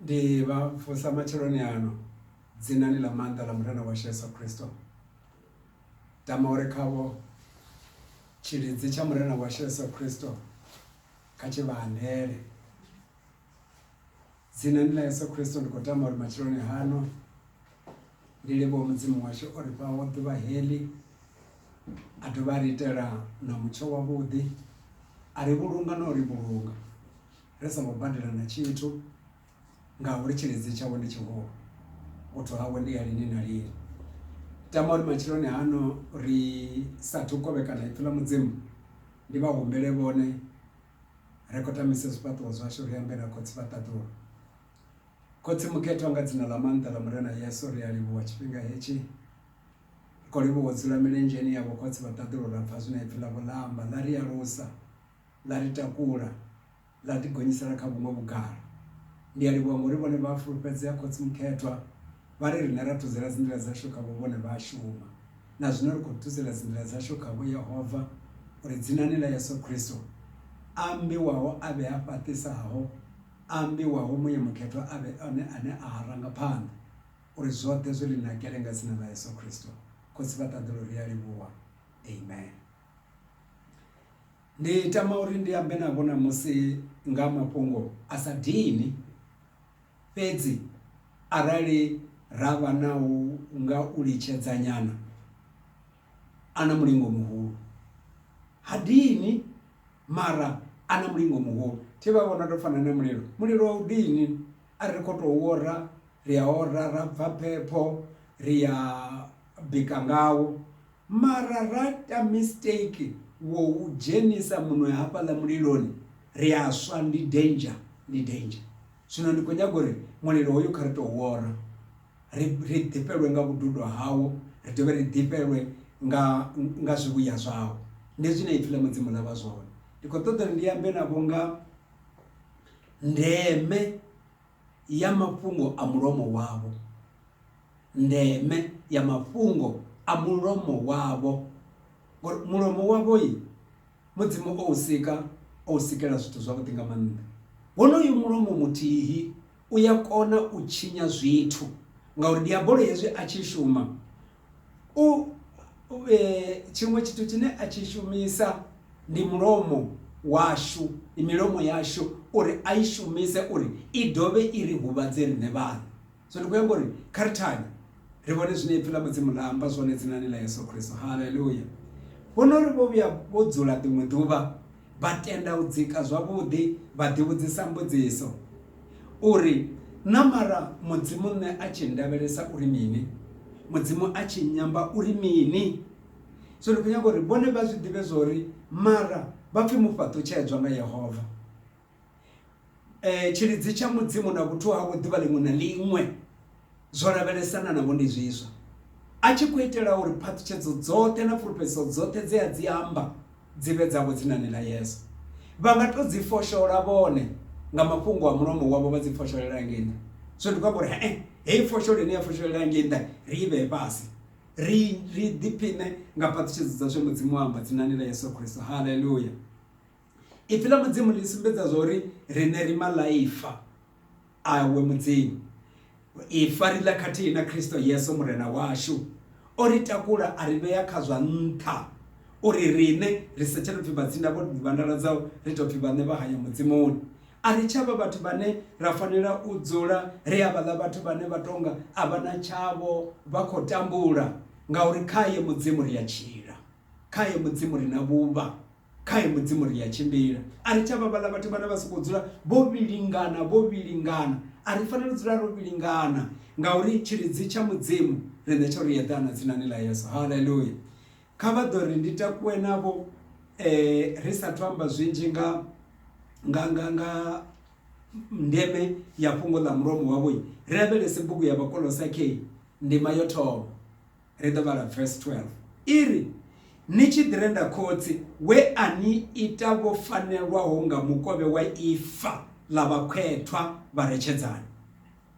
Ndi vha vusa matsheloni ano dzinani ḽa maanḓa ḽa Murena washu Yesu Kristo. Tama uri khavho tshilidzi tsha Murena washu Yesu Kristo kha tshi vha andele. Dzinani ḽa Yesu Kristo ndi khou tama uri matsheloni hano. Ndi livhuwa Mudzimu washu o ri fhaho ḓuvha heḽi a dovha a ri itela na mutsho wavhuḓi a ri vhulunga na u ri vhulunga ri songo badela na tshithu ngauri tshiledzi tshawe ndi tshihulu u thwa hawe ndi ya lini na lini. Tama uri matsheloni hano ri sathu kovhekana ipfhi ḽa Mudzimu ndi vha humbele vhone ri khou tamisa zwifhaṱuwo zwashu ri ambe na khotsi vha ṱaḓulu. Khotsi mukhethwa nga dzina ḽa maanḓa ḽa Murena Yesu ri a livhuwa tshifhinga hetshi. Ri khou livhuwa u dzula milenzheni ya vhokhotsi vha ṱaḓulu ra pfa zwine ipfi ḽavho ḽa amba ḽa ri alusa ḽa ri takula ḽa ḓi gonyisela kha vhuṅwe vhugala. Ndi a livhuwa ngori vhone vha a fulufhedzea khotsi mukhethwa vha ri riṋe ra thudzela dzinḓila dzashu khavho vhone vha a shuma. Na zwino ri khou thudzela dzinḓila dzashu khavho Yehova uri dzinani ḽa Yesu Khristo a ambiwaho a vhe a fhaṱisaho ambiwaho Muya Mukhethwa a vhe one ane a ha ranga phanḓa, uri zwoṱhe zwi ḽi nakele nga dzina ḽa Yesu Kristo Khotsi vha ṱaḓulu ri a livhuwa. Amen. Ndi tama uri ndi ambe navho ṋamusi nga mafhungo a sa dini fhedzi arali ra vha na u nga u litshedzanyana a na mulingo muhulu ha dini mara a na mulingo muhulu thi vha vhona to fana na mulilo mulilo a u dini a ri kho to ora ri a ora ra bva phepho ri ya bika ngawo mara ra ita mistake wo u dzhenisa muṅwe hafhaḽa muliloni ri a swa ndi danger ndi danger zwino ndi kho nyaga uri mulilo hoyu kha ri to u ora. ri, ri ḓifhelwe nga vhududo hawo ri dovhe ri ḓifhelwe nga, nga zwivhuya zwawo ndi zwine ipfi ḽa mudzimu ḽa vha zwone ndi khou ṱoḓa uri ndi ambe navho nga ndeme ya mafhungo a mulomo wavho ndeme ya mafhungo a mulomo wavho ngori mulomo wavho i mudzimu o u sika o u sikela zwithu zwavhuḓi nga maanḓa wonoyu mulomo muthihi u ya kona u tshinya zwithu ngauri diabolo hezwi a tshi shuma u tshiṅwe tshithu tshine a tshi shumisa ndi mulomo washu ndi milomo yashu uri a i shumise uri i dovhe i ri huvhadze riṋe vhaṋe so ndi khou yamba uri kha ri thanye ri vhone zwine ipfi ḽa mudzimu ḽa amba zwone dzinani ḽa yesu khristo haleluya vhono ri vho vhuya vho dzula ḽiṅwe ḓuvha Vha tenda u dzika zwavhuḓi vha ḓivhudzisa mbudziso uri, Na mara Mudzimu nṋe a tshi ndavhelesa uri mini? Mudzimu a tshi nyamba uri mini? So ndi khou nyaga uri vhone vha zwi ḓivhe zwa uri mara vha pfi mufhaṱutshedzwa nga Yehova. um tshilidzi tsha mudzimu na vhuthu havho ḓuvha ḽiṅwe na ḽiṅwe zwo lavhelesana navho ndi zwiswa a tshi khou itela uri phaṱhutshedzo dzoṱhe na fulufhedziso dzoṱhe dze a dzi amba dzi vhe dzavho dzinani ḽa yesu vha nga to dzi foshola vhone nga mafhungo a mulomo wavho vha dzi fosholela ngei nṱha so ndi khou amba uri he heyi fosholo ine ya fosholela ngei nṱha ri i vhee fhasi ri ri ḓiphiṋe nga phaṱhutshedzo dza zwe mudzimu amba dzinani ḽa yesu kristo haleluya Ipfi ḽa Mudzimu ḽi sumbedza zwa uri riṋe ri maḽaifa awe Mudzimu. Ifa ri ḽa khathihi na Kristo Yesu Murena washu. O ri takula a ri vhea kha zwa nṱha uri riṋe ri sa tsha tou pfi vhatsinda vho vhandaladzaho, ri tou pfi vhaṋe vha haya Mudzimuni. A ri tsha vha vhathu vhane ra fanela u dzula ri havhaḽa vhathu vhane vha tou nga a vha na tshavho, vha khou tambula ngauri khae Mudzimu ri a tshila, khae Mudzimu ri na vhuvha. Khae Mudzimu ri a tshimbila. A ri tsha vha vhaḽa vhathu vhane vha sokou dzula vho vhilingana, vho vhilingana. A ri fanela u dzula ro vhilingana ngauri tshilidzi tsha Mudzimu riṋe tsho ri eḓana dzinani ḽa Yesu. Haleluya! Kha vha ḓo ri ndi takuwe navho ri sathu amba zwinzhi nga nga nga nga ndeme ya fhungo ḽa mulomo wavho. Ri lavhelese bugu ya Vhakolosakei ndima yo thoma. ri ḓo vhala verse 12 i ri ni tshi ḓi renda khotsi we a ni ita vho fanelwaho nga mukovhe wa ifa ḽa vhakhwethwa vha retshedzani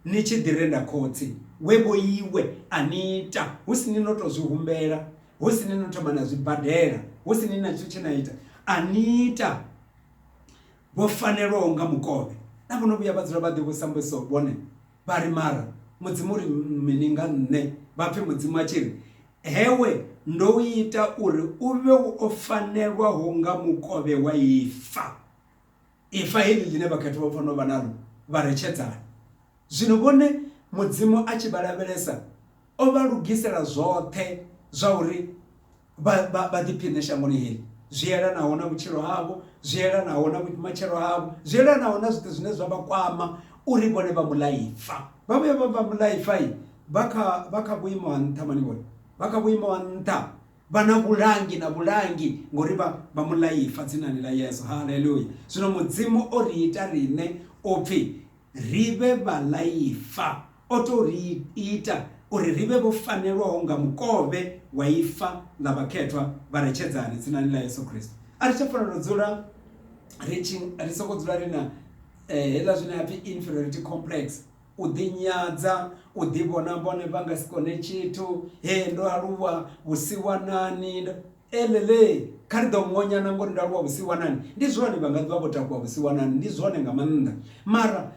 ni tshi ḓi renda khotsi we vho iwe a ni ita hu si ni no tou zwi humbela hu si ni no thoma na zwibadela hu si ni na tshithu tshe na ita a ni ita vho fanelwaho nga mukovhe na vho no vhuya vha dzula vha ḓivhusa mbudziso vhone Vha ri, Mara Mudzimu u ri mini nga nṋe? Vha pfe Mudzimu a tshi ri, Hewe, ndo u ita uri u vhe wo fanelwaho nga mukovhe wa ifa. Ifa heḽi ḽine vhakhathutshwa vha fanela u vha naḽo vha re tshedzani. Zwino vhone Mudzimu a tshi vha lavhelesa, o vha lugisela zwoṱhe zwa uri. vha ḓiphiṋe shangoni heḽi zwi elanaho na vhutshilo havho zwi elanaho na matshelo havho zwi elanaho na zwithu zwine zwa vha kwama uri vhone vha mulaifa vha vhuya vha vha mulaifa i vha kha vha kha vhuimo ha nṱha mani vhone vha kha vhuimo ha nṱha vha na vhulangi na vhulangi ngori vha vha mulaifa dzinani ḽa yesu haleluya zwino mudzimu o ri ita riṋe upfhi ri vhe vhalaifa o tou ri ita uri ri vhe vho fanelwaho nga mukovhe wa ifa ḽa vhakhethwa vha re tshedzani dzinani ḽa Yesu Kristo. A ri tsha fanela u dzula ri tshi ri soko dzula ri na eh, hela zwine ha pfi inferiority complex u ḓinyadza u ḓivhona vhone vha nga si kone tshithu he ndo aluwa vhusiwanani elele kha ri ḓo ngonyana ngori ndo aluwa vhusiwanani ndi zwone vha nga ḓivha vho takuwa vhusiwanani ndi zwone nga maanḓa mara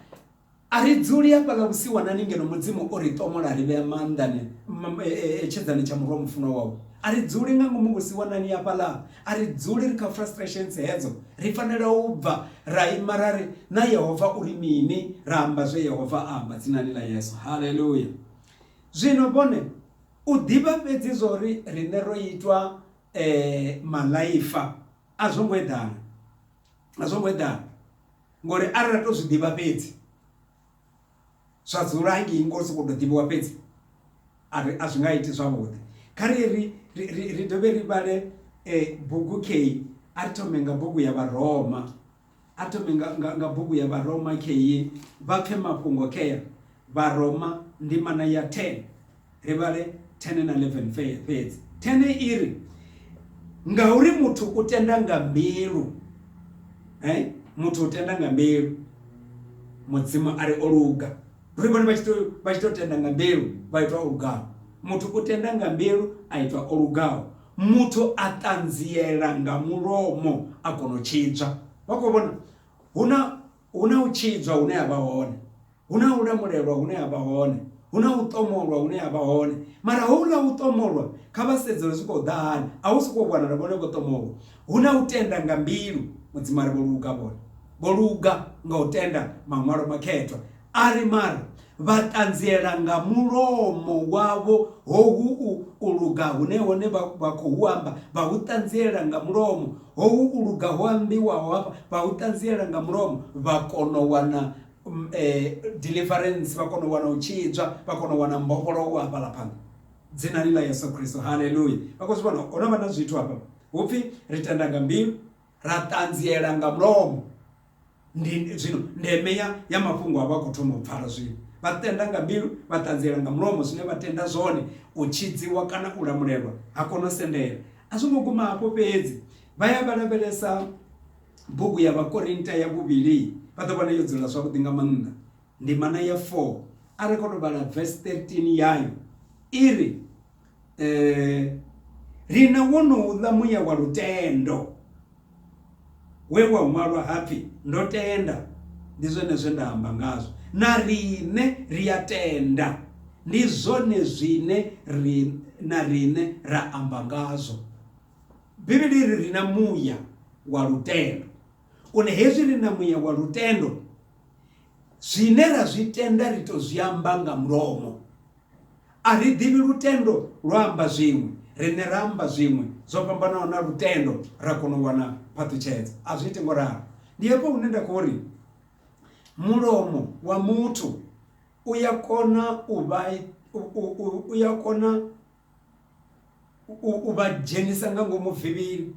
A ri dzuli hafhaḽa vhusiwanani ngeno Mudzimu o ri ṱomola a ri vhea maanḓani e, e, e, tshedzani tsha murwa mufunwa wawe. A ri dzuli nga ngomu vhusiwanani hafhaḽa, a ri dzuli ri kha frustrations hedzo. Ri fanela u bva ra ima ra ri, Na Yehova u ri mini? Ra amba zwe Yehova a amba, dzinani ḽa Yesu. Haleluya! Zwino vhone, u ḓivha fhedzi zwa uri riṋe ro itwa e, malaifa a zwo ngo eḓana. a zwo ngo eḓana ngori arali ra to zwi ḓivha fhedzi zwa dzula hangei ngo sokou tou ḓivhiwa fhedzi ari a zwi nga iti zwavhuḓi kha ri ri ri ri dovhe ri vhale um bugu kei a ri thome nga bugu ya vharoma a thome nga nga nga bugu ya vharoma kei vha pfhe mafhungo kea vharoma ndimana ya ten ri vhale 10 na 11 fhedzi 10 i ri ngauri muthu u tenda nga mbilu eh muthu u tenda nga mbilu mudzimu a ri o luga ri vhone vha tshi to vha tshi to tenda nga mbilu vha itwa o lugaho muthu u tenda nga mbilu a itwa o lugaho muthu a ṱanziela nga mulomo a kona u tshidzwa vha khou vhona hu na Hu na u tshidzwa hune ha vha hone, hu na u lamulelwa hune ha vha hone, hu na u ṱomolwa hune ha vha hone. Mara houḽa u ṱomolwa, kha vha sedze uri zwi khou ḓa hani. A hu sokou vhonala vhone vho ṱomolwa. Hu na u tenda nga mbilu. Mudzimu a ri vho luga vhone. Vho luga nga u tenda Maṅwalo Makhethwa. A ri, Mara Vha ṱanziela nga mulomo wavho hohu u u luga hune hone vha vha khou hu amba, vha hu ṱanziela nga mulomo, hohu u luga ho ambiwaho hafha vha hu ṱanziela nga mulomo, vha kona u wana deliverance, vha kona u wana u tshidzwa, vha kona u wana mbofholowo hafhaḽa phanḓa. Dzinani ḽa Yeso Kristo, haleluya! Vha khou zwi vhona, ho no vha na zwithu hafha, hu pfi ri tenda nga mbilu, ra ṱanziela nga mulomo. Ndi zwino ndeme ya ya mafhungo a vha khou thoma u pfala zwino. Vha tenda nga mbilu, vha ṱanziela nga mulomo zwine vha tenda zwone, u tshidziwa kana u lamulelwa ha kono sendela. A zwo ngo guma hafho fhedzi, vha ya vha lavhelesa bugu ya Vhakorinta ya vhuvhili, vha ḓo vhona yo dzula zwavhuḓi nga maanḓa. Ndimana ya 4 a ri khou tou vhala verse 13 yayo i ri, eh, ri na wonouḽa muya wa lutendo we wa ṅwalwa hapfi ndo tenda ndi zwone zwe nda amba ngazwo na riṋe ri a tenda ndi zwone zwine ri na riṋe ra amba ngazwo bivhili ri ri na muya wa lutendo une hezwi ri na muya wa lutendo zwine ra zwi tenda ri to zwi amba nga mulomo A ri ḓivhi lutendo lwa amba zwiṅwe, riṋe ra amba zwiṅwe zwo fhambanaho na lutendo ra kona u wana phaṱhutshedzo. A zwi iti ngo ralo. Ndi hafho hune nda khou ri mulomo wa muthu u ya kona u vha u ya kona u vha dzhenisa nga ngomu vivhili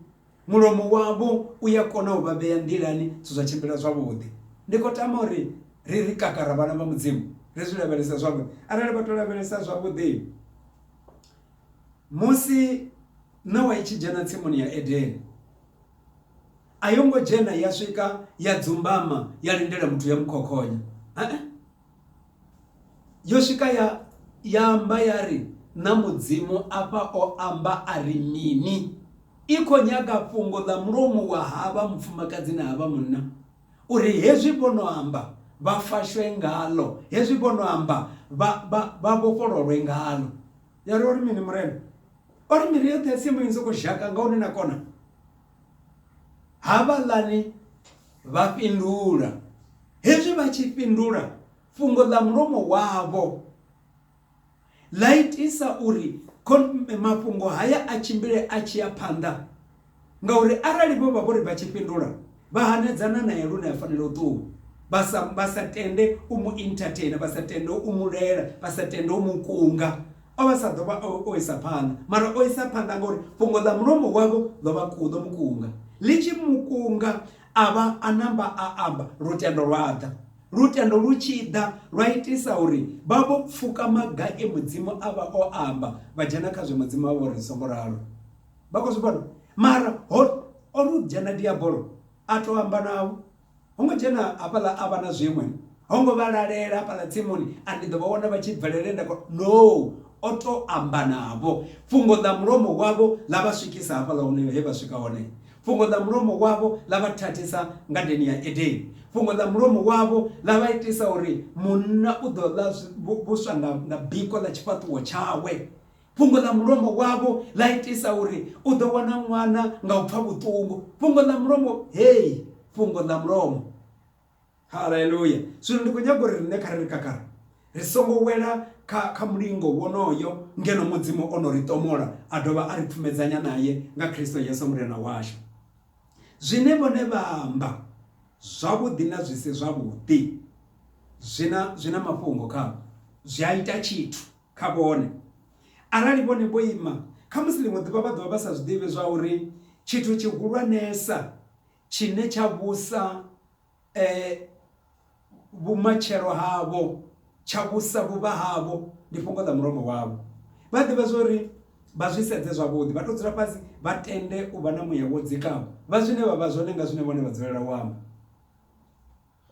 mulomo wavho u ya kona u vha vhea nḓilani zwithu zwa tshimbila zwavhuḓi ndi khou tama uri ri ri kakara vhana vha mudzimu ri zwi lavhelesa zwavhuḓi arali vha to lavhelesa zwavhuḓi musi ṋawa i tshi dzhena tsimuni ya edeni a yo ngo dzhena ya swika ya dzumbama ya lindela muthu ya mukhokhonya. yo swika ya ya amba ya ri na mudzimu afha o amba a ri mini i kho nyaga fhungo ḽa mulomo wa havha mufumakadzi na havha munna uri hezwi vhono amba vha fashwe ngalo hezwi vhono amba vha vhofhololwe ngalo ya ri ori mini murena ori miri yoṱhe ya tsimu i ni soko zhaka nga hune na kona Havhaḽani vha fhindula, hezwi vha tshi fhindula, fhungo ḽa mulomo wavho ḽa itisa uri mafhungo haya a tshimbile a tshi ya phanḓa, ngauri arali vho vha vho ri vha tshi fhindula, vha hanedzana nae lune a fanela u ṱuwa, vha sa, vha sa tende u mu entertainer, vha sa tende u mu lwela, vha sa tende u mu kunga. O vha sa ḓo vha o isa phanḓa, mara o isa phanḓa ngauri fhungo ḽa mulomo wavho ḽo vha kuḓo mukunga. Ḽi tshi mukunga a vha a namba a amba, lutendo lwa ḓa. Lutendo lu tshi ḓa lwa itisa uri vha vho pfuka maga e Mudzimu a vha o amba, vha dzhena kha zwe Mudzimu a vha uri songo ralo. Vha khou zwi vhona? Mara ho o lu dzhena diabolo a tou amba navho, Ho ngo dzhena hafhaḽa a vha na zwiṅwe, ho ngo vha lalela hafhaḽa tsimuni a ndi ḓo vha wana vha tshi bvelela he nda kona. No! O tou amba navho. Fhungo ḽa mulomo wavho ḽa vha swikisa hafhaḽa hune he vha swika hone. Fhungo ḽa mulomo wavho ḽa vha thathisa ngadeni ya Edeni. Fhungo ḽa mulomo wavho ḽa vha itisa uri munna u ḓo ḽa vhuswa nga biko ḽa tshifhaṱuwo tshawe. Fhungo ḽa mulomo wavho ḽa itisa uri u ḓo wana ṅwana nga u pfa vhuṱungu. Fhungo ḽa mulomo, hei, fhungo ḽa mulomo. Haleluya! Zwino ndi khou nyaga uri riṋe kha ri ri kakara, ri songo wela kha, kha mulingo wonoyo ngeno Mudzimu o no ri ṱomola a dovha a ri pfumedzanya nae nga Kristo Yesu Murena washu. Zwine vhone vha amba, zwavhuḓi na zwi si zwavhuḓi, zwi na, zwi na mafhungo khao. Zwi a ita tshithu. kha vhone. Arali vhone vho ima, khamusi ḽiṅwe ḓuvha vha ḓo vha vha sa zwi ḓivhi zwauri tshithu tshihulwanesa tshine tsha vhusa vhumatshelo havho, tsha vhusa vhuvha havho, ndi fhungo ḽa mulomo wavho. Vha ḓivha zwa uri vha zwi sedze zwavhuḓi, vha tou dzula fhasi, vha tende u vha na muya wo dzikaho, vha zwine vha vha zwone nga zwine vhone vha dzulela u amba.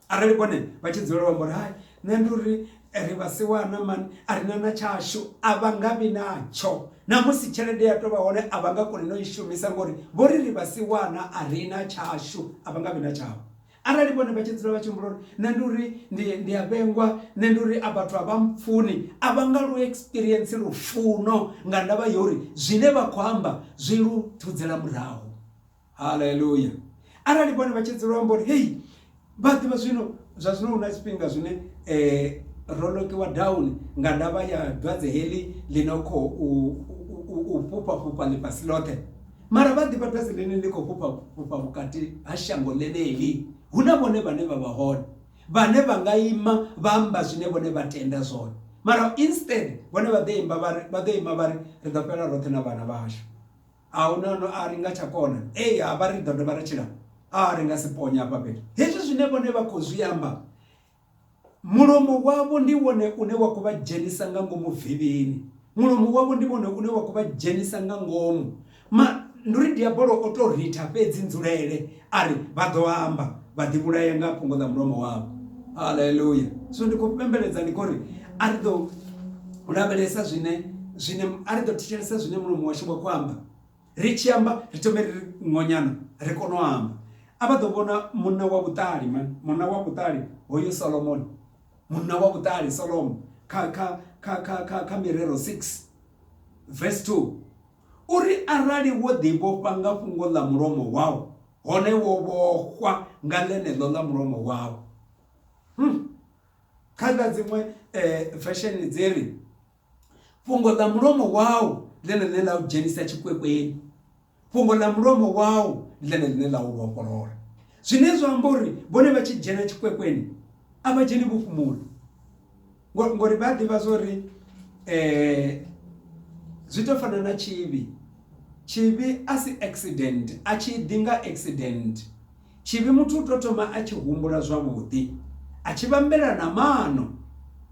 arali vhone vha tshi dzulela u amba uri hai nṋe ndi uri ri vhasiwana mani a ri na na tshashu a vha nga vhi natsho na musi tshelede ya tovha hone a vha nga koni no i shumisa ngori vho ri ri vhasiwana a ri na tshashu a vha nga vhi na tshavho arali vhone vha tshi dzula vha tshi humbula uri nṋe ndi uri ndi ndi a vhengwa nṋe ndi uri a vhathu a vha mpfuni a vha nga lu experience lufuno nga ndavha ya uri zwine vha khou amba zwi lu thudzela murahu haleluya arali vhone vha tshi dzula amba uri hei vha ḓivha zwino zwa zwino hu na tshifhinga zwine um ro lokiwa down nga ndavha ya dwadze heḽi ḽi no khou u fhufha fhufha ḽifhasi ḽoṱhe mara vha ḓivha dwadze ḽine ḽi khou fhufha fhufha vhukati ha shango ḽeneḽi hu na vhone vhane vha vha hone vhane vha nga ima vha amba zwine vhone vha tenda zwone mara instead vhone vha ḓo imba vha ri vha ḓo ima vha ri ri ḓo fhela roṱhe na vhana vhashu a hu na no a ri nga tsha kona ei ha vha ri ḓo dovha ra tshila a ri nga si ponya hafha fhethu hezwi zwine vhone vha khou zwi amba mulomo wavho ndi wone une wa khou vha dzhenisa nga ngomu vivhini mulomo wavho ndi wone une wa khou vha dzhenisa nga ngomu ma ndi uri diabolo o to ritha fhedzi nzulele A ri, Vha ḓo amba, vha ḓivhulaya nga fhungo ḽa mulomo wavho. Haleluya! Zwino ndi khou fhembeledza, ndi khou ri, a ri ḓo lavhelesa zwine, zwine, a ri ḓo thetshelesa zwine mulomo washu wa khou amba. Ri tshi amba, ri thome ri ngonyana, ri kone u amba. A vha ḓo vhona munna wa vhuṱali, man, munna wa vhuṱali, hoyu Solomoni, munna wa vhuṱali Solomo, kha, kha, kha, kha, kha, kha Mirero 6, verse 2. Uri arali wo ḓivhofha nga fhungo ḽa mulomo wau, hone wo vhofhwa nga ḽeneḽo ḽa mulomo wau. Hmm. Kha ḽa dziṅwe eh, vesheni dzi ri, fhungo ḽa mulomo wau ḽene ḽine ḽa u dzhenisa tshikwekweli fhungo ḽa mulomo wau ḽene ḽine ḽa u vhofholola zwine zwa amba uri vhone vha tshi dzhena tshikwekweli a vha dzheni vho fhumula Ngo- ngori vha ḓivha zwori eh zwi to fana na tshivhi tshivhi a si accident a tshi ḓi nga accident tshivhi muthu u to thoma a tshi humbula zwavhuḓi a tshi vhambela na mano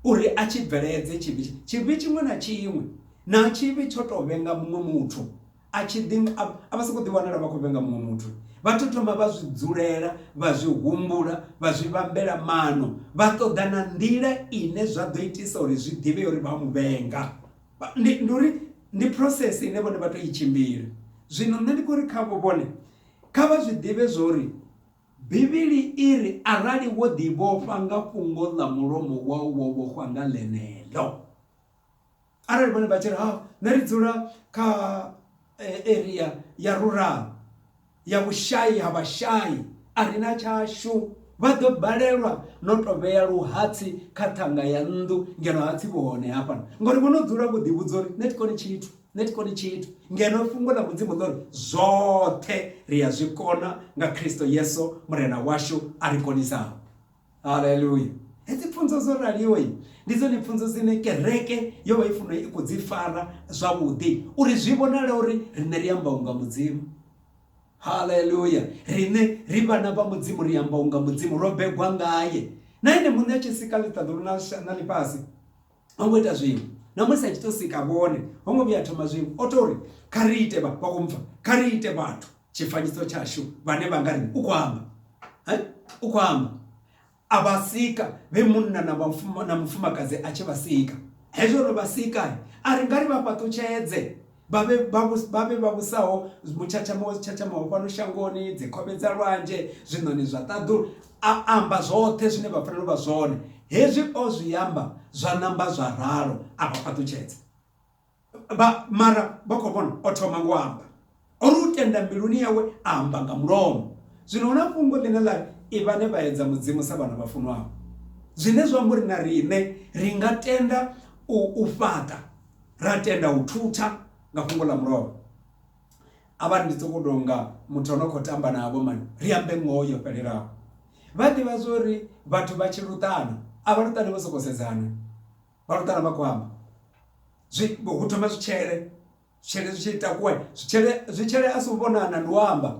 uri a tshi bveledze tshivhi tshivhi tshiṅwe na tshiṅwe na tshivhi tsho to vhenga muṅwe muthu A tshi ḓi nga, a vha sokou ḓiwanela vha khou vhenga muṅwe muthu. Vha tou thoma vha zwi dzulela, vha zwi humbula, vha zwi vhambela maano, vha ṱoḓa na nḓila ine zwa ḓo itisa uri zwi ḓivhee uri vha a mu vhenga. Ndi, ndi uri ndi process ine vhone vha tou i tshimbila. Zwino nṋe ndi khou ri khavho vhone, kha vha zwi ḓivhe zwa uri Bivhili i ri arali wo ḓivhofha nga fhungo ḽa mulomo wau wo vhofhwa nga ḽeneḽo. Arali vhone vha tshi ri ha nṋe ri dzula kha area ya rural ya vhushayi ha vhashai a ri na tshashu vha ḓo balelwa no to vhea luhatsi kha ṱhanga ya nnḓu ngeno hatsi vhu hone hafha ngori vho no dzula vho ḓi vhudza uri nṋe thi koni tshithu nṋe thi koni tshithu ngeno fhungo ḽa mudzimu ḽo ri zwoṱhe ri a zwi kona nga Kristo Yesu murena washu a ri konisaho. Haleluya! Hedzi pfunzo dzo raliho ndi dzone pfunzo dzine kereke yo vha i funa i khou dzi fara zwavhuḓi uri zwi vhonale uri riṋe ri amba unga mudzimu haleluya riṋe ri vhana vha mudzimu ri amba unga mudzimu ro begwa ngaye na ene muṋe a tshi sika ḽiṱaḓulu na ḽifhasi ho ngo ita zwiṅwe na musi a tshi tou sika vhone ho ngo vhuya thoma zwiṅwe o tou ri kha ri ite vha khou mpfa kha ri ite vhathu tshifanyiso tshashu vhane vha nga ri u khou amba u khou amba a vha sika vhe munna na na mufumakadzi a tshi vha sika hezwo ro vha sika a ri nga ri vha fhaṱutshedze vha vhe vha vhu- vha vhe vha vhusaho mutshatshama wa zwitshatshamaho fhano shangoni dzikhove dza lwanzhe zwiṋoni zwa ṱaḓulu a amba zwoṱhe zwine vha fanela u vha zwone hezwi o zwi amba zwa namba zwa ralo a vha fhaṱutshedza vha mara vha khou vhona o thoma ngo amba o ri u tenda mbiluni yawe a amba nga mulomo zwino hu na fhungo ḽine ḽa ri i vhane vha edza mudzimu sa vhana vha funwaho zwine zwa amba uri na riṋe ri nga tenda u, u fhaṱa ra tenda u thutha nga fhungo ḽa mulovha avhani ndi tsoko tonga muthu ono khou tamba navho mani ri ambe ngoho yo fhelelaho vha ḓivha zwa uri vhathu vha tshi luṱana a vha luṱani vho sokou sedzana vha luṱana vha khou amba zwi hu thoma zwitshele zwitshele zwi tshi takuwa zwitshele zwitshele a si u vhonana ndi u amba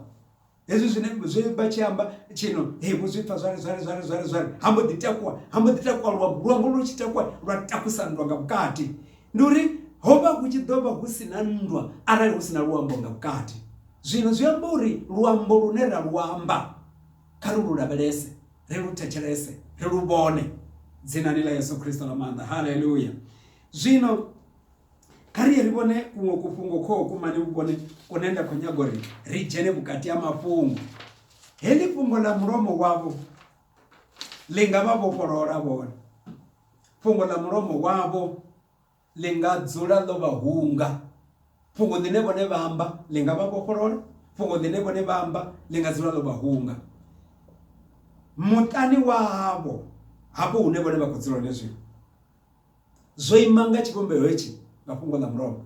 hezwi zwine zwe vha tshi amba tshino he vho zwi pfa zwale zwale zwale zwale zwale ha mbo ḓi takuwa ha mbo ḓi takuwa luambo luambo lu tshi takuwa lwa takusa nndwa nga vhukati ndi uri ho vha hu tshi ḓo vha hu si na nndwa arali hu si na luambo nga vhukati zwino zwi amba uri luambo lune ra lu amba kha ri lu lavhelese ri lu thetshelese ri lu vhone dzinani ḽa yesu khristo ḽa maanḓa haleluya zwino kha ri ye ri vhone kuṅwe kufhungo kho kumane vhukone kune nda khou nyaga uri ri dzhene vhukati ha mafhungo heḽi fhungo ḽa mulomo wavho ḽi nga vha vhofholola vhone fhungo ḽa mulomo wavho ḽi nga dzula ḽo vha hunga fhungo ḽine vhone vha amba ḽi nga vha vhofholola fhungo ḽine vhone vha amba ḽi nga dzula ḽo vha hunga muṱani wavho hafho hune vhone vha khou dzula hone zwino Zwo ima nga tshivhumbeo hetshi nga fhungo ḽa mulovha.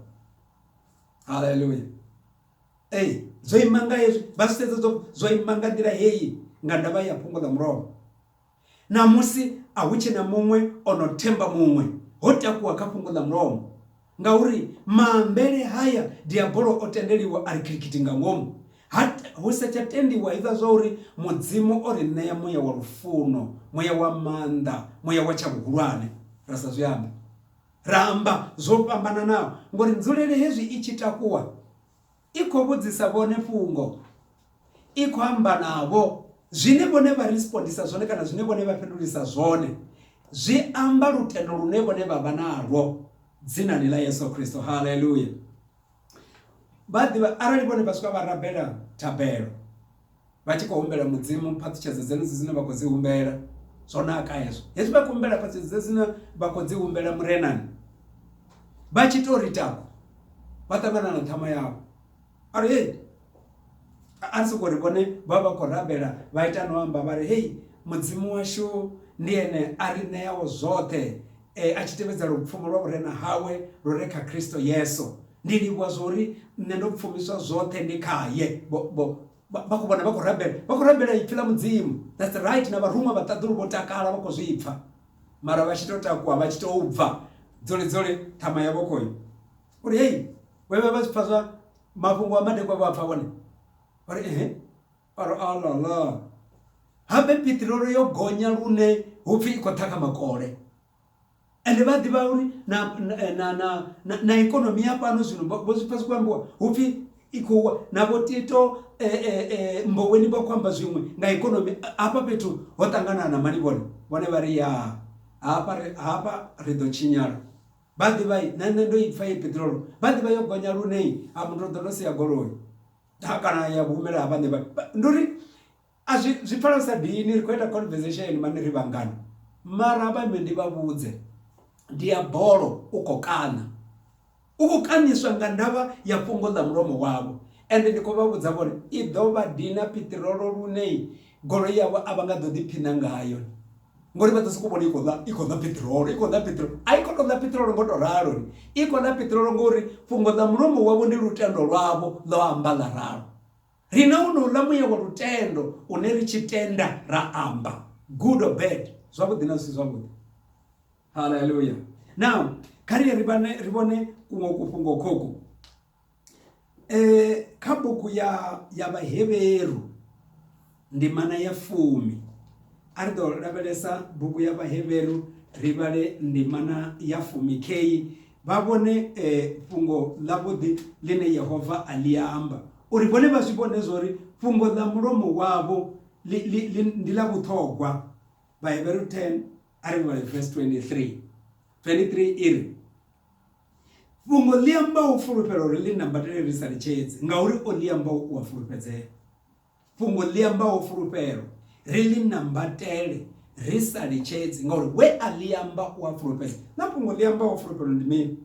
Haleluya. Ee, zwo ima nga hezwi vha zwi sedza zwo zwo ima nga nḓila heyi nga ndavha ya fhungo ḽa mulovha. Ṋamusi a hu tshena muṅwe o no themba muṅwe ho takuwa kha fhungo ḽa mulomo ngauri maambele haya diabolo o tendeliwa a ri khilikhiti nga ngomu Ha, hu sa tsha tendiwa hezwiḽa zwa uri Mudzimu o ri ṋea muya wa lufuno, muya wa maanḓa, muya wa tsha vhuhulwane. Ra sa zwi ambe. Ra amba zwo fhambananaho, ngori nzulele hezwi i tshi takuwa, i khou vhudzisa vhone fhungo, i khou amba navho. Zwine vhone vha respondisa zwone kana zwine vhone vha fhindulisa zwone, zwi amba lutendo lune vhone vha vha nalwo dzinani ḽa Yesu Kristo. Haleluya! vha ḓivha arali vhone vha swika vha rabela thabelo vha tshi khou humbela mudzimu phaṱhutshedzo dzenedzo dzine vha khou dzi humbela zwo naka hezwo hezwi vha khou humbela phaṱhutshedzo dze dzine vha khou dzi humbela murenani vha tshi tou ri tako vha ṱangana na ṱhama yavho ari hei a ri soko ri vhone vha vha khou rabela vha ita no amba vha ri hei mudzimu washu ndi ene a ri ṋeaho zwoṱhe e, a tshi tevhedza lupfumo lwa vhurena hawe lu re kha kristo yesu ndi livhuwa zwori nṋe ndo pfumiswa zwoṱhe ndi khaye vho vha khou vhona vha khou rabela vha khou rabela ipfi ḽa mudzimu that's right na vharuṅwa vhaṱaḓulu vho takala vha khou zwi pfa mara vha tshi tou takuwa vha tshi tou bva dzole dzole ṱhama yavho khoyo uri hei vhevha vha zwi pfa zwa Mafhungo a madekwa vha a pfa vhone vha ri ehe vha ri alala habe piṱirolo yo gonya lune hu pfi i khou ṱhakha makole ende vha ḓivha uri na na na na ikonomi ya fhano zwino vho zwi pfha zwi khou ambiwa hu pfi i khou wa na vho tito mboweni vha khou amba zwiṅwe nga ikonomi hafha fhethu ho ṱangana na mani vhone vhone vha ri ya hafha ri hafha ri ḓo tshinyala. Vha ḓivha i nṋe nṋe ndo i pfha ye peṱirolo vha ḓivha yo gonya lune a muthu ṱoḓa no sia goloi ha kana ya humela ha vhaṋe vha ndi uri a zwi zwi pfala sa dini ri khou ita conversation mani ri vhangana mara ha vha ime ndi vha vhudze ndi ya bolo u kho kaṋa u khou kaṋiswa nga ndavha ya fhungo ḽa mulomo wavho ende ndi khou vha vhudza vhone i ḓo vha dina piṱirolo lune goloi yavho a vha nga ḓo ḓiphiṋa ngayo. ngori vha ḓo sokou vhona i khou ḓa i khou ḓa piṱirolo i khou ḓa piṱirolo a i khou tou ḓa piṱirolo ngo tou ralo ni i khou ḓa piṱirolo ngori fhungo ḽa mulomo wavho ndi lutendo lwavho ḽo amba ḽa ralo rine u no ḽa muya wa lutendo une ri tshi tenda ra amba good or bad zwavhuḓi na zwisi zwavhuḓi haleluya now kha ri ri vhone ri vhone kuṅwe kufhungo khoko eh kha bugu ya ya vhaheveru ndimana ya fumi a ri ḓo lavhelesa bugu ya vhaheveru ri vhale ndimana ya fumi kheyi vha vhone eh, fhungo ḽavhuḓi ḽine yehova a ḽi amba uri vhone vha zwi vhone zwa uri fhungo ḽa mulomo wavho ndi ḽa vhuṱhogwa vhaheveru 10 a ri vhale verse 23 23 i ri Fhungo ḽi ambaho u fulufhela uri ḽi nambatele ri sa litshedzi ngauri o ḽi ambaho u a fulufhedzea. Fhungo ḽi ambaho fulufhelo ri ḽi nambatele ri sa litshedzi ngauri we a ḽi amba u a fulufhedza. Na fhungo ḽi ambaho fulufhelo ndi mini?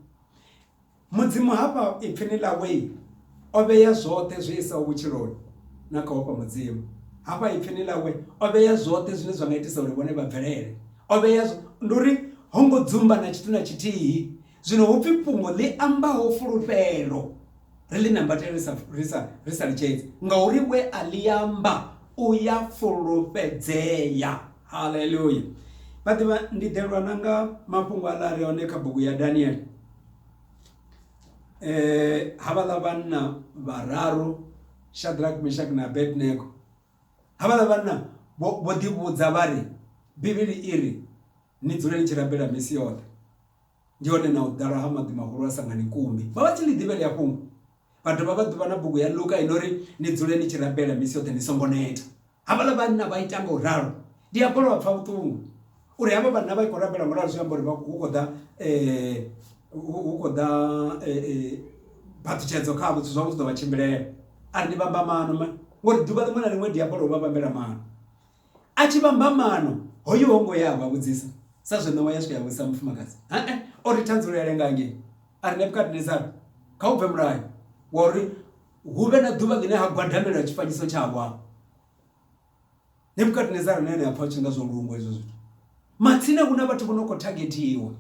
Mudzimu hafha ipfini ḽawe O vhea zwoṱhe zwi isaho vhutshiloni na kha ofha Mudzimu. Hafha Ipfini ḽawe, o vhea zwoṱhe zwine zwa nga itisa uri vhone vha bvelele. O vhea. Ndi uri ho ngo dzumba na tshithu na tshithihi. Zwino hu pfi fhungo ḽi ambaho fulufhelo, ri ḽi nambatele ri sa, ri sa, ri sa litshedzi, ngauri we a ḽi amba u ya fulufhedzea. Haleluya! Vhaḓivha, ndi ḓelwa na nga mafhungo aḽa a re hone kha bugu ya Daniele. Eh, havhaḽa vhanna vhararu shadrack meshak na abednego havhaḽa vhanna vho ḓivhudza vha ri bivhili i ri ni dzule ni tshi rabela misi yoṱhe ndi hone na u ḓala ha maḓi mahulu a sangani kumbi vha vha tshi ḽi ḓivhele ya fhungo vha dovha vha ḓuvha na bugu ya luka i no ri ni dzule ni tshi rabela misi yoṱhe ni songo neta Havhaḽa vhanna vha ita nga u ralo. Ndi a kholwa vha pfa vhuṱungu uri havha vhanna vha i khou rabela nga u ralo zwi amba uri hu khou ḓa hu khou ḓa phaṱhutshedzo khavho zwithu zwavho zwi ḓo vha tshimbilela a ri ndi vhamba maano ngori ḓuvha ḽiṅwe na ḽiṅwe diabolo u vha vhambela maano a tshi vhamba maano hoyu ho ngo ya vha vhudzisa sa zwe ṋewa ya swika ya vhudzisa mufumakadzi hee o ri thandululo ya lenga hangei a ri Nebukadnezara kha u bve mulayo wa uri hu vhe na ḓuvha ḽine ha gwadamelwa tshifanyiso tshawa nebukadnezara na ene a pfha u tshi nga zwo lungwa hezwo zwithu matsina hu na vhathu vho no khou thagethiwa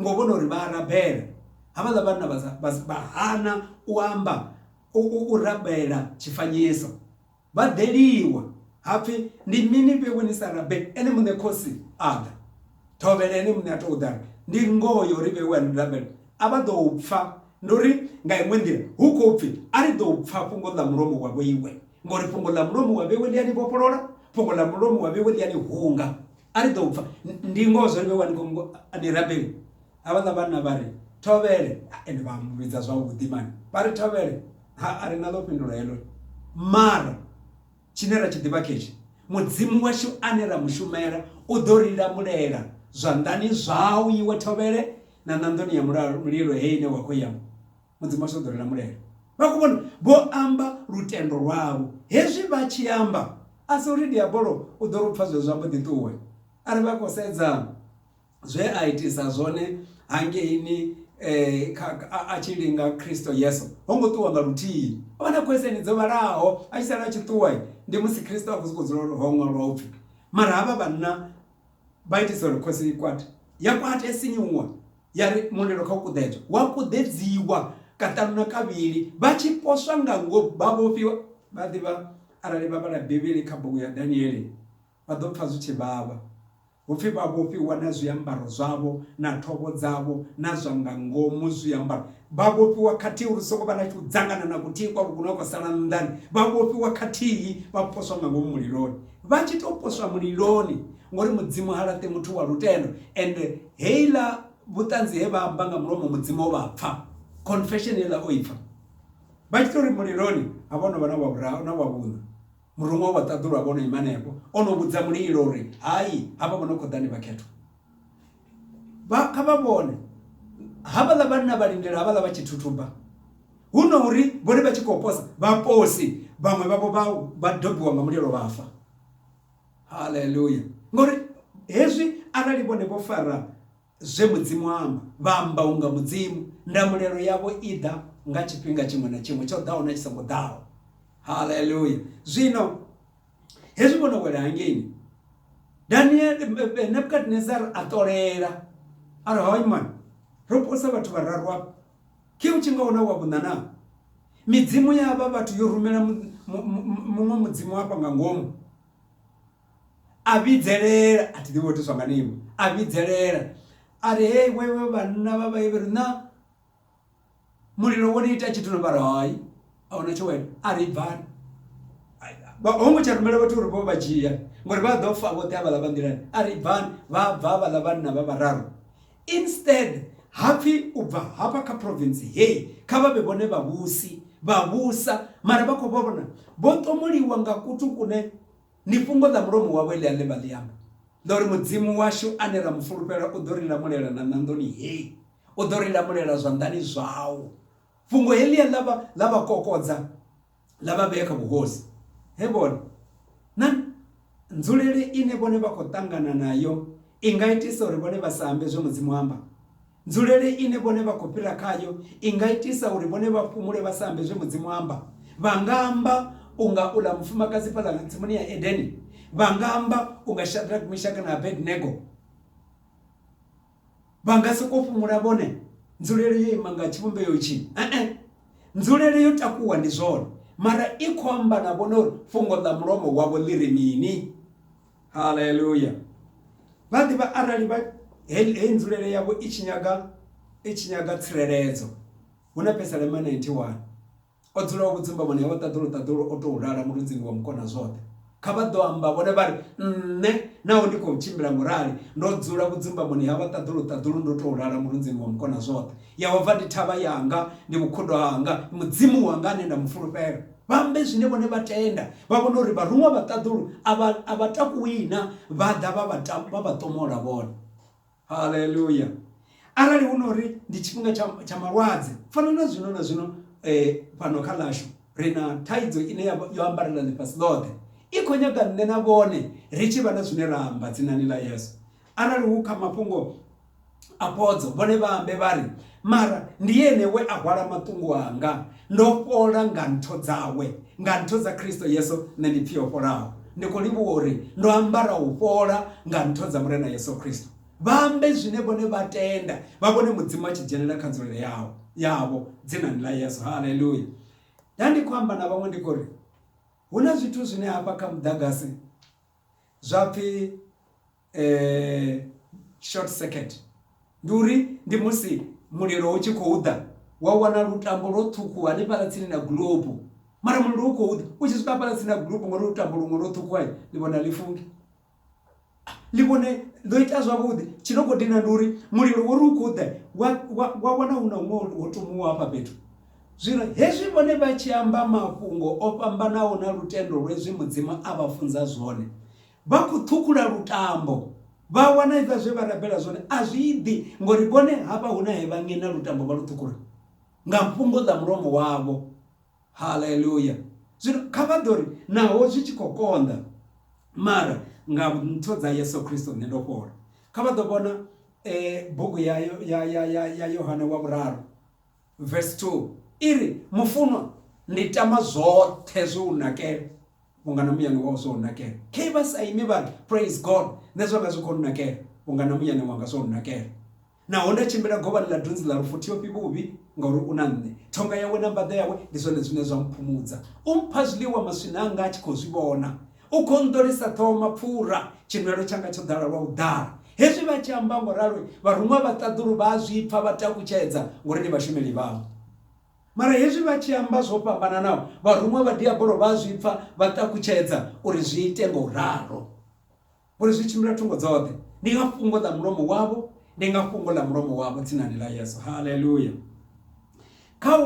ngo vhona uri vha arabela havhaḽa vhanna vha hana u amba u rabela tshifanyiso Vha ḓeliwa, ha pfi, Ndi mini vhe we ni sa rabele Ene muṋe khosi a ḓa? Thovhele Ene muṋe a tou ḓa ri, Ndi ngoho ya uri vhe we a ni rabela a vha ḓo u pfa. Ndi uri nga iṅwe nḓila hu khou pfi, A ri ḓo u pfa fhungo ḽa mulomo wa vhe we, ngauri fhungo ḽa mulomo wa vhe we ḽi a ni vhofholola, fhungo ḽa mulomo wa vhe we ḽi a ni hunga. A ri ḓo u pfa. Ndi ngoho zwa uri vhe we a ni rabela. ha vhaḽa vhanna vha ri thovhele ende vha mu vhidza zwavhuḓi mani vha ri thovhele ha a ri na ḽo fhindula heḽo mara tshine ra tshi ḓivha khetshi mudzimu washu ane ra mushumela u ḓo ri lamulela zwanḓani zwau iwe thovhele na ṋanḓoni ya mulilo he ine wa khou ya mudzimu washu u ḓo ri lamulela vha khou vhona vho amba lutendo lwavho hezwi vha tshi amba a si uri diabolo u ḓo ri u pfha zwezwo ambo ḓi ṱuwe a ri vha khou sedza zwe a itisa zwone hangeini eh, a tshi linga khristo yesu ho ngo ṱuwa nga luthihi o vha na khweseni dzo vhalaho a tshi sala a tshi ṱuwa ndi musi khristo a khou sokou dzula ho ṅwalwa upfhi mara havha vhanna vha itisa uri khosi i kwate ya kwate ya sinyuwa ya ri mulilo kha u kuḓedzwa wa kuḓedziwa kaṱanu na kavhili vha tshi poswa nga ngo vha vhofhiwa vha ḓivha arali vha vhala bivhili kha bugu ya daniele vha ḓo pfha zwi tshi vhavha Hu pfi vha vhofhiwa na zwiambaro zwavho na thovho dzavho na zwa nga ngomu zwiambaro. Vha vhofhiwa khathihi uri hu songo vha na tshiudzangana na kuthihi kwa vhukuma kwa sala nnḓani. Vha vhofhiwa khathihi vha poswa nga ngomu muliloni. Vha tshi tou poswa muliloni, ngori Mudzimu ha laṱi muthu wa lutendo, ende heiḽa vhuṱanzi he vha amba nga mulomo Mudzimu o vha pfa, confession heiḽa o i pfa. Vha tshi tou ri muliloni, ha vha ho no vha na wa vhuraru na wa vhuṋa. Muruṅwa u vha ṱaḓulwa vho no ima henefho, o no vhudza mulilo uri, Hai, havha vho no khou ḓa ndi vhakhethwa. Vha, kha vha vhone, havhaḽa vhanna vha lindela havhaḽa vha tshi thuthuba. Hu no uri vhone vha tshi khou posa, vhaposi vhaṅwe vhavho vha, vha dobiwa nga mulilo vha fa. Haleluya! Ngauri hezwi arali vhone vho fara. Zwe Mudzimu a amba, vha amba unga Mudzimu. Ndamulelo yavho i ḓa nga tshifhinga tshiṅwe na tshiṅwe, tsho ḓaho na tshi songo ḓaho. Haleluya! Zwino hezwi vho no wela hangeini, Daniel eh, eh, Nebukadnezar a ṱolela a ri hoy man ro posa vhathu vhararu afha khe u tshi nga huna wa vhuṋa na midzimu ya vha vhathu yo rumela muṅwe mudzimu afha nga ngomu a vhidzelela a thi ḓivhi vho tiswa nga nivho a vhidzelela a ri hei wewe vhanna vha vhaivheri na mulilo wo ni ita tshithu no vhari hai a huna tsho wena a ri bvani ho ngo tsha rumela vhathu uri vho vha dzhia ngori vha ḓo fa vhoṱhe a vhaḽa vha nḓilani a ri bvani vha bva vhaḽa vhanna vha vhararu instead hapfi u bva hafha kha province hei kha vha vhe vhone vhavhusi vha vhusa mara vha khou vha vhona vho ṱomuliwa nga kuthu kune Ni fhungo ḽa mulomo wawe ḽi a ḽevha ḽi amba, ḽa uri Mudzimu washu ane ra mu fulufhela u ḓo ri lamulela na ṋanḓoni hei, u ḓo ri lamulela zwanḓani zwau. Fhungo heḽia ḽa vha ḽa vha kokodza ḽa vha vhea kha vhuhosi he vhone na nzulele ine vhone vha khou ṱangana nayo i nga itisa uri vhone vha sa ambe zwe Mudzimu a amba. Nzulele ine vhone vha khou fhira khayo i nga itisa uri vhone vha fhumule vha sa ambe zwe Mudzimu a amba. Vha nga amba u nga uḽa mufumakadzi fhaḽa nga tsimuni ya Edeni. Vha nga amba u nga Shadrack, Mishaki na Abednego. Vha nga sokou fhumula vhone nzulele yo ima nga tshivhumbeo itshi. E-e, nzulele yo takuwa ndi zwone, mara i khou amba na vhone uri fhungo ḽa mulomo wavho ḽi ri mini. haleluya vha ḓivha arali vha heyi nzulele yavho i tshi nyaga i tshi nyaga tsireledzo hu na pesalema 91 o dzulaho vhudzumba vhone vha ṱaḓulu ṱaḓulu o tou lala mulunzini wa mukona zwoṱhe kha vha ḓo amba vhone vha ri nṋe naho ndi khou tshimbila ngo rali ndo dzula vhudzumbamoni ha vha ṱaḓulu ṱaḓulu ndo tou lala mulunzini wa mukona zwoṱhe yehova ndi thavha yanga ndi vhukhudo hanga mudzimu wanga ane nda mu fulufhela Vha ambe zwine vhone vha tenda, vha vhone uri vharuṅwa vha ṱaḓulu a vha a vha takuwi na, vha ḓa vha vha ta, vha vha ṱomola vhone. Haleluya! Arali hu no ri ndi tshifhinga tsha, tsha malwadze, fana na zwino na zwino eh, fhano kha ḽashu ri na thaidzo ine ya, yo ambarela ḽifhasi ḽoṱhe, i khou nyaga nṋe na vhone ri tshi vha na zwine ra amba dzinani ḽa Yesu. Arali hu kha mafhungo a phodzo, vhone vha ambe vha ri, Mara ndi Ene we a hwala maṱungu anga, ndo fhola nga ntho dzawe. Nga ntho dza Kristo Yesu nṋe ndi pfi o fholaho. Ndi khou livhuwa uri ndo ambara u fhola nga ntho dza Murena Yesu Kristo. Vha ambe zwine vhone vha tenda, vha vhone Mudzimu a tshi dzhenela kha nzulele yao yavho Dzinani ḽa Yesu. Haleluya! Nda ndi khou amba na vhaṅwe ndi khou ri, Hu na zwithu zwine hafha kha muḓagasi Zwa pfi short circuit ndi uri ndi musi mulilo u tshi khou ḓa wa wana lutambo lwo ṱhukhuwa hanefhaḽa tsini na gulobu mara mulilo u khou ḓa u tshi swika hafhaḽa tsini na gulobu ngori lutambo luṅwe lwo ṱhukhuwa ḽi vhona ḽi funge ḽi vhone ḽo ita zwavhuḓi tshi no khou dina ndi uri mulilo wo ri u khou ḓa wa wana hu na huṅwe ho tomuwa hafha fhethu. Zwino hezwi vhone vha tshi amba mafhungo o fhambanaho na lutendo lwezwi Mudzimu a vha funza zwone, vha khou ṱhukhula lutambo, vha wana hezwiḽa zwe vha rabela zwone a zwi ḓi, ngauri vhone hafha hu na he vha ṅeṋa lutambo vha lu ṱhukhula nga fhungo ḽa mulomo wavho. Haleluya! Zwino kha vha ḓo ri, Naho zwi tshi khou konḓa, mara nga ntho dza Yesu Kristo nṋe ndo fhola. Kha vha ḓo vhona bugu ya Yohane wa Vhuraru. Vesi 2 i ri, Mufunwa, ndi tama zwoṱhe zwo u nakela, vhunga na muyani wau zwo u nakela. Khe vha sa imi vha ri, Praise God! Nṋe zwanga zwi khou nnakela, vhunga na muyani wanga zwo u nakela. Naho nda tshimbila govhani ḽa dunzi ḽa lufu thiofhi vhuvhi, ngauri u na nṋe. Thonga yawe na mbaḓa yawe ndi zwone zwine zwa mphumudza. U mpha zwiḽiwa maswina anga a tshi khou zwi vhona. U khou nḓolisa ṱhoho mapfura, tshinwelo tshanga tsho ḓala lwa u ḓala. Hezwi vha tshi amba ngo ralo, vharuṅwa vha ṱaḓulu vha a zwi pfa vha takutshedza, ngori ndi vhashumeli vhau. Mara hezwi vha tshi amba zwo fhambananaho, vharuṅwa vha Diabolo vha a zwi pfa vha takutshedza uri zwi ite nga u ralo. Ngori zwi tshimbila thungo dzoṱhe, ndi nga fhungo ḽa mulomo wavho, ndi nga fhungo ḽa mulomo wavho, dzinani ḽa Yesu. Haleluya! Kha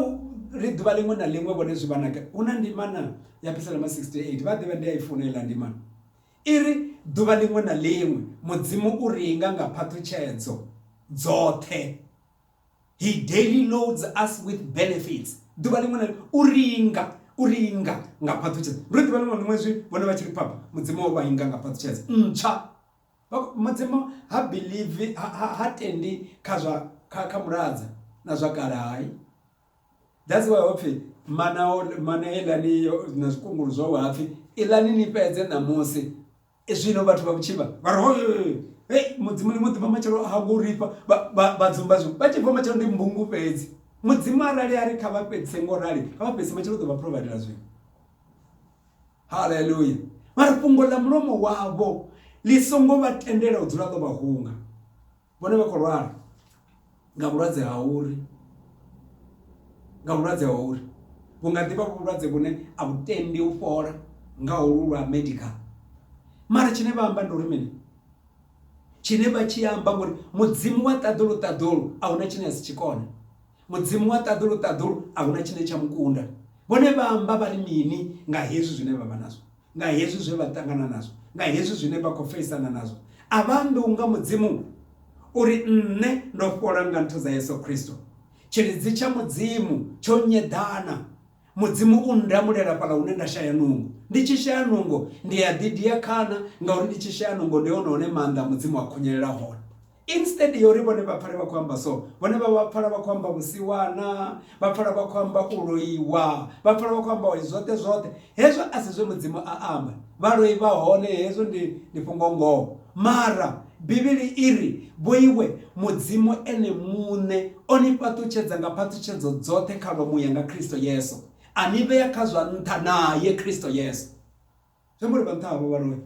ri ḓuvha ḽiṅwe na ḽiṅwe vhone zwi vha na gai? Hu na ndimana ya Pisaloma 68, vha a ḓivha ndi a i funa heiḽa ndimana. I ri, Ḓuvha ḽiṅwe na ḽiṅwe Mudzimu u ri inga nga phaṱhutshedzo dzoṱhe. He daily loads us with benefits. Ḓuvha ḽiṅwe na ḽiṅwe u ri inga, u ri inga nga phaṱhutshedzo. Ndi uri ḓuvha ḽiṅwe na ḽiṅwe hezwi vhone vha tshi ri phapha, Mudzimu o vha inga nga phaṱhutshedzo ntswa. Mudzimu ha believe ha, ha, ha tendi kha zwa kha, kha muladza na zwa kale hai that's why hopfi mana mana elani na zwikungulu zwo hapfi elani ni fhedze ṋamusi e zwino vhathu vha vhutshivha vha ri hoyo hey mudzimu ni mu ḓivha matshelo ha ngo rifha vha dzumba zwi vha tshi bva matshelo ndi mbungu fhedzi mudzimu arali a ri kha vha fhedzise ngo rali kha vha fhedzise matshelo u ḓo vha providela zwino Haleluya! Mara fhungo ḽa mulomo wavho ḽi songo vha tendela u dzula ḽo vha hunga. Vhone vha khou lwala nga vhulwadze ha uri, nga vhulwadze ha uri vhu nga ḓi vha vhu vhulwadze vhune a vhu tendi u fhola nga holwu lwa medical. Mara tshine vha amba ndi uri mini? Tshine vha tshi amba ngori Mudzimu wa ṱaḓulu ṱaḓulu a huna tshine a si tshi kone. Mudzimu wa ṱaḓulu-ṱaḓulu a hu na tshine tsha mu kunda. Vhone vha amba vha ri mini nga hezwi zwine vha vha nazwo, nga hezwi zwe vha ṱangana nazwo, nga hezwi zwine vha khou feisana nazwo? A vha ambi unga Mudzimu u ri, Nṋe ndo fhola nga nthu dza Yesu Kristo. Tshilidzi tsha Mudzimu tsho nyeḓana. Mudzimu u nndamulela fhaḽa hune nda shaya nungo. Ndi tshi shaya nungo, ndi a ḓidia khana, ngauri ndi tshi shaya nungo ndi hone hune maanḓa a Mudzimu a khunyelela hone. Instead ya uri vhone vha pfale vha khou amba so, vhone vha vha pfala vha khou amba vhusiwana, vha pfala vha khou amba u loiwa, vha pfala vha khou amba uri zwoṱhe zwoṱhe. Hezwo a si zwe Mudzimu a amba. Vhaloi vha hone, hezwo ndi ndi fhungo ngoho. Mara Bivhili i ri, Vhoiwe, Mudzimu Ene muṋe o ni fhaṱutshedza nga phaṱhutshedzo dzoṱhe kha lwa muya nga Kristo Yesu, a ni vhea kha zwa nṱha nae Kristo Yesu. Zwi amba uri vha nṱha havho vha loi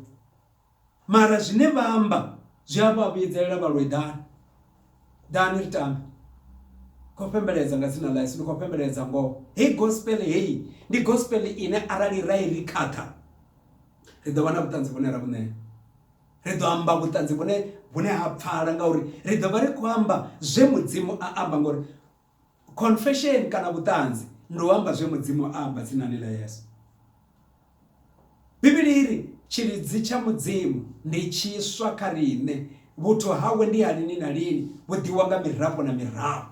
mara zwine vha amba zwi a vha vhuyedzelela vha loi ḓani ḓani ri tambe kho fhembeledza nga dzina ḽa Yesu ndi kho fhembeledza ngoho heyi gospel heyi ndi gospel ine arali ra i ri khakha ri ḓo vha na vhuṱanzi vhune ra vhuṋea ri ḓo amba vhuṱanzi vhune vhune ha pfala ngauri ri ḓo vha ri khou amba zwe mudzimu a amba ngori Confession kana vhuṱanzi ndi u amba zwe Mudzimu a amba dzinani ḽa Yesu. Bivhili i ri, Tshilidzi tsha Mudzimu ndi tshiswa kha riṋe, vhuthu hawe ndi ha lini na lini, vhu ḓiwa nga mirafho na mirafho.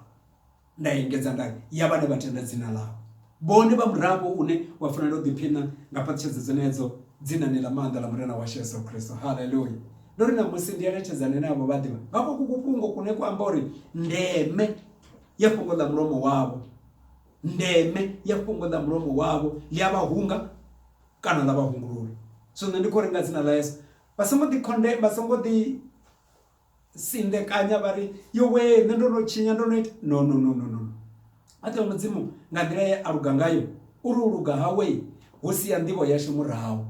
Nda engedza nda ri, ya vhane vha tenda dzina ḽawe. Vhone vha murafho une wa fanela u ḓiphiṋa nga phaṱhutshedzo dzenedzo dzinani ḽa maanḓa ḽa Murena washu Yesu Kristo. Haleluya! Ndo ri ṋamusi ndi eletshedzane na avho vhaḓivha vha kwoku kufhungo kune kwa amba uri ndeme ya fhungo ḽa mulomo wavho ndeme ya fhungo ḽa mulomo wavho ḽi a vha hunga kana ḽa vha hungulula. Zwino ndi khou ri nga dzina ḽa Yesu vha songo ḓi khonde vha songo ḓi sindekanya vha ri yowee nṋe ndo no tshinya ndo no ita no no no no no oṱhe mudzimu nga nḓila ye a luga ngayo uri u luga hawe hu sia nḓivho yashu murahu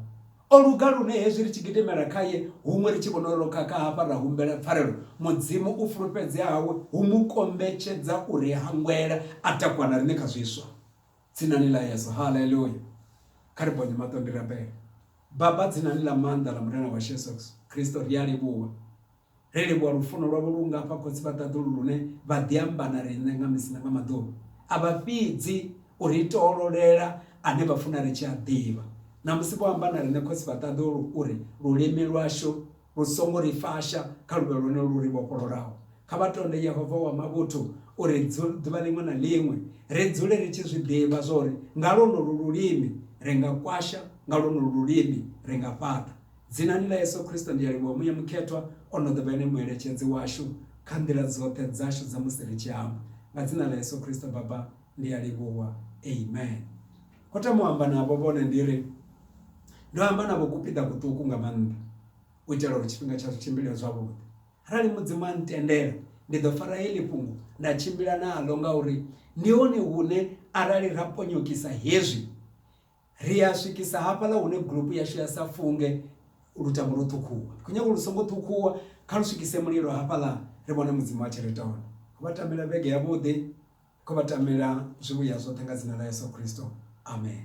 o luga lune hezwi ri tshi gidimela khaye huṅwe ri tshi vhona uri ro khakha hafha ra humbela pfarelo mudzimu u fulufhedzea hawe hu mu kombetshedza uri hangwela a takuwa na riṋe kha zwiswa Dzinani ḽa Yesu, Haleluya! Kha ri bonye maṱo ndi rabele. Baba, dzinani ḽa maanḓa ḽa Murena washu Yesu Kristo, ri a livhuwa. Ri livhuwa lufuno lwavho lu nga fha khotsi vha ṱaḓulu lune vha ḓi amba na riṋe nga misi na nga maḓuvha. A vha fhidzi u ri toololela ane vha funa ri tshi a ḓivha. Ṋamusi vho amba na riṋe khotsi vha ṱaḓulu uri lulimi lwashu Hu songo ri fasha kha luvha lwone lu ri vhofhololaho. Kha vha tonde Yehova wa mavhuthu uri ḓuvha ḽiṅwe na ḽiṅwe ri dzule ri tshi zwi ḓivha zwa uri nga lwonolu lulimi ri nga kwasha, nga lwonolu lulimi ri nga fhaṱa. Dzinani ḽa Yesu Kristo ndi a livhuwa. Muya Mukhethwa o no ḓo vha ene Mueletshedzi washu kha nḓila dzoṱhe dzashu dza musi ri tshi amba. Nga Dzina ḽa Yesu Kristo Baba, ndi a livhuwa. Amen. Ho thoma u amba navho vhone ndi ri, Ndo amba navho kupiḓa kuṱuku nga maanḓa, u itela uri tshifhinga tshashu tshimbile zwavhuḓi. Arali Mudzimu a ntendela, ndi ḓo fara heḽi fhungo nda tshimbila naḽo, ngauri ndi hone hune arali ra ponyokisa hezwi, ri a swikisa hafhaḽa hune gulupu yashu ya sa funge lutamo lwo ṱhukhuwa. Ndi khou nyaga uri lu songo ṱhukhuwa, kha lu swikise mulilo hafhaḽa ri vhone Mudzimu a tshi ri ita hone. Vha tamela vhege yavhuḓi. Kho vha tamela zwivhuya zwoṱhe nga dzina ḽa Yeso Khristo. Amen.